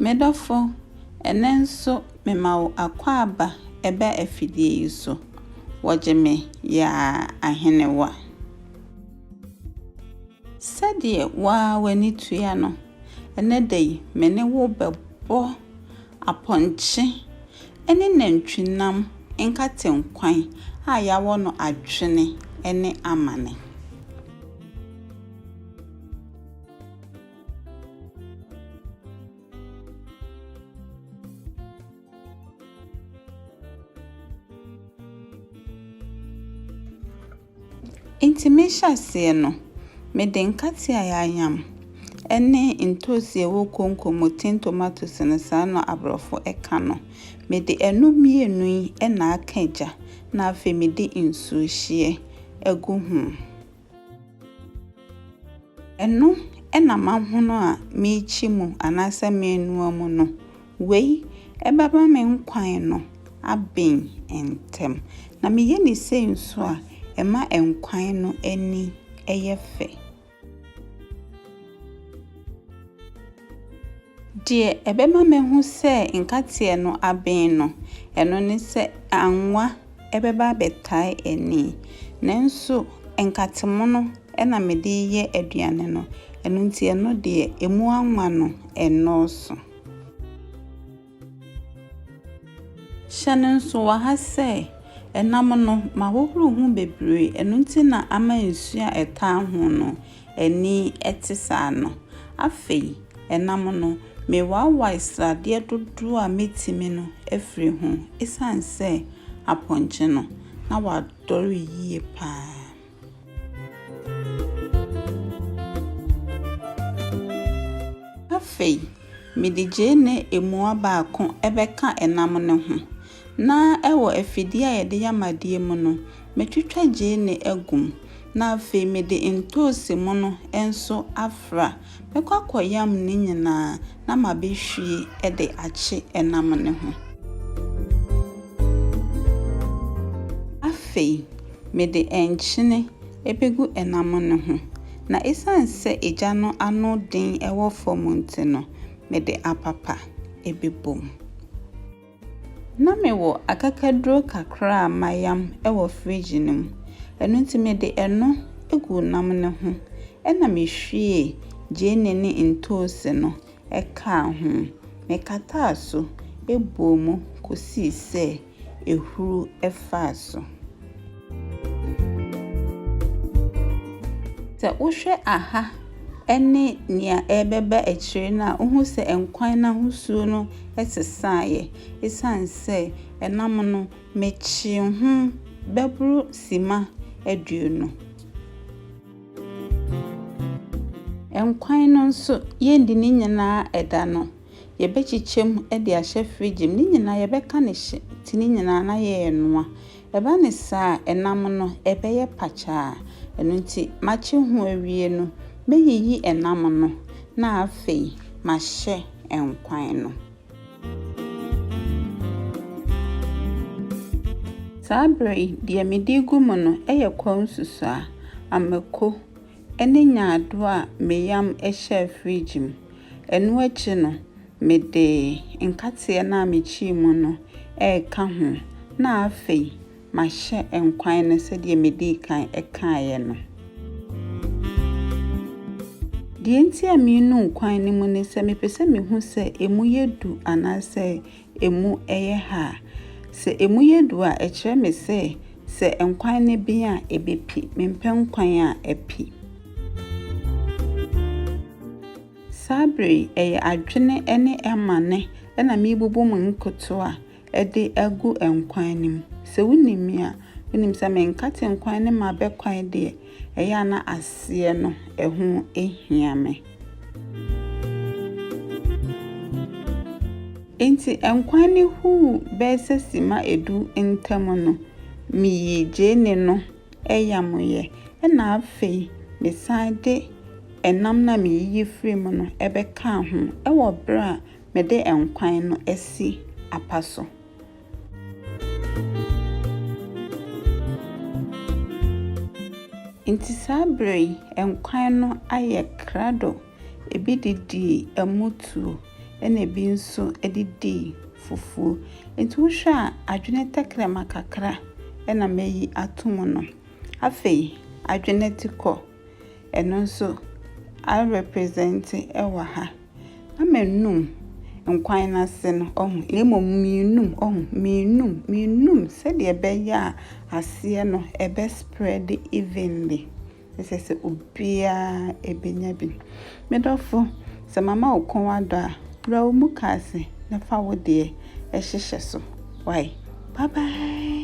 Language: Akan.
Me dɔfo, ɛnnɛ nso mema wo akwaaba ba afidie yi so, wɔgye me yaa ahenewa. Sɛdeɛ wo ara w'ani tua no, ɛnnɛ da yi me ne wo bɛbɔ apɔnkye ne nantwinam nkate nkwan a yɛawɔ no adwene ne amane. Enti me hyɛaseɛ no, mede nkate a yɛayam ne ntoosi a ɛwɔ konko mu, tin tomatoes no saa na aborɔfo ka no, mede ɛno mmienu yi na aka gya na afei mede nsuo hyeɛ agu ho. Ɛno na m'ahono a merekyi mu anaasɛ merenoa mu no, wei bɛma me nkwan no aben ntɛm, na meyɛ no sei nso a, ɛma nkwan no ani yɛ fɛ. Deɛ ɛbɛma mahu sɛ nkateɛ no aben no, ɛno ne sɛ anwa bɛba abɛtae ani. Nanso nkatemono na mede reyɛ aduane no, ɛno nti ɛno deɛ, ɛmu anwa no nnɔɔso. Hyɛ no nsowa ha sɛ, ɛnam no, mahohoro ho bebree, ɛno nti na ama nsu a ɛtaa ho no ani te saa no. Afei, ɛnam no, mewaawae sradeɛ dodoɔ a mɛtumi no afiri ho, ɛsiane sɛ apɔnkye no, na wadɔre yie pa ara. Afei mede gyeene mua baako bɛka nam no ho, na wɔ afidie a yɛde yɛ amadeɛ mu no, mɛtwitwa gyeene agu mu, na afei mede ntoosi mono nso afra. Mɛkɔ akɔyam ne nyinaa na mabɛhwie de akye ɛnam no ho. Afei, mede nkyene bɛgu ɛnam no ho, na ɛsiane sɛ egya no ano den wɔ fam nti no, mede apapa bɛbom. Ná mewɔ akakaduro kakra a mayam wɔ fridge no mu, ɛno nti mede ɛno guu nam no ho, ɛnna mihwiee gyeene ne ntoosi no kaa ho. Mekataa so bɔɔ mu kosii sɛ ahuru faa so. Sɛ wohwɛ aha ne nea ɛrebɛba akyire no a, wohu sɛ nkwan no ahosuo no sesaeɛ ɛsiane sɛ ɛnam no mekyee ho bɛboro simma aduonu. Nkwan no nso, yɛndi ne nyinaa ɛda no, yɛbɛkyekyɛ mu de ahyɛ fridge mu. Ne nyinaa yɛbɛka no hye nti ne nyinaa na yɛrenoa. Ɛba no saa a, ɛnam no, ɛbɛyɛ pakyaa. Ɛno nti, makye ho awie no, mɛyiyi ɛnam no, na afei mahyɛ nkwan no. Saa berɛ yi, deɛ mede regu mu no yɛ kwawu nsusuaa, amako, ne nyaadoo a meyam hyɛɛ friigye mu. Ɛno akyi no, Mede nkateɛ no a mekyii mu no reka ho na afei mahyɛ nkwan no sɛdeɛ medii kan kaeɛ no. Deɛ nti a merenu nkwan no mu ne sɛ mepɛ sɛ mehu sɛ ɛmu yɛ du anaasɛ ɛmu yɛ ha. Sɛ ɛmu yɛ du a, ɛkyerɛ me sɛ, sɛ nkwan no ben a, ɛbɛpi. Mempɛ nkwan a api. Saa bere yi, ɛyɛ adwene ne amane na merebubu mo nkotoo a ɛde agu nkwan no mu. Sɛ wunim me a, wunim sɛ menkate nkwan no mu abɛ kwae deɛ, ɛyɛ a na aseɛ no ɛho hia me. Enti nkwan no huu bɛɛ sɛ simma edu ntam no, meyii gyeene no ayamyɛ, ɛnna afei mesan de nam no a meyiyi firii mu no bɛkaa ho wɔ berɛ a mede nkwan no asi apa so. Enti saa berɛ yi, nkwan no ayɛ krado. Ebi de dii ɛmo tuo, ɛna ebi nso de dii fufuo. Nti wohwɛ a, adwene tɛkrɛma kakra na mayi ato mu no. Afei, adwene atikɔ, ɛno nso arepresente wɔ ha. Na mannum nkwan no ase no, ɔho, na mmom menum, ɔho, menum, menum sɛdeɛ ɛbɛyɛ a aseɛ no ɛbɛ spread evenly. ɛsɛ sɛ obiara bɛnya bi. Me dɔfo, sɛ mama wo kɔn adɔ a, wura wo mukaase na fa wo deɛ hyehyɛ so. Wai. Bye bye.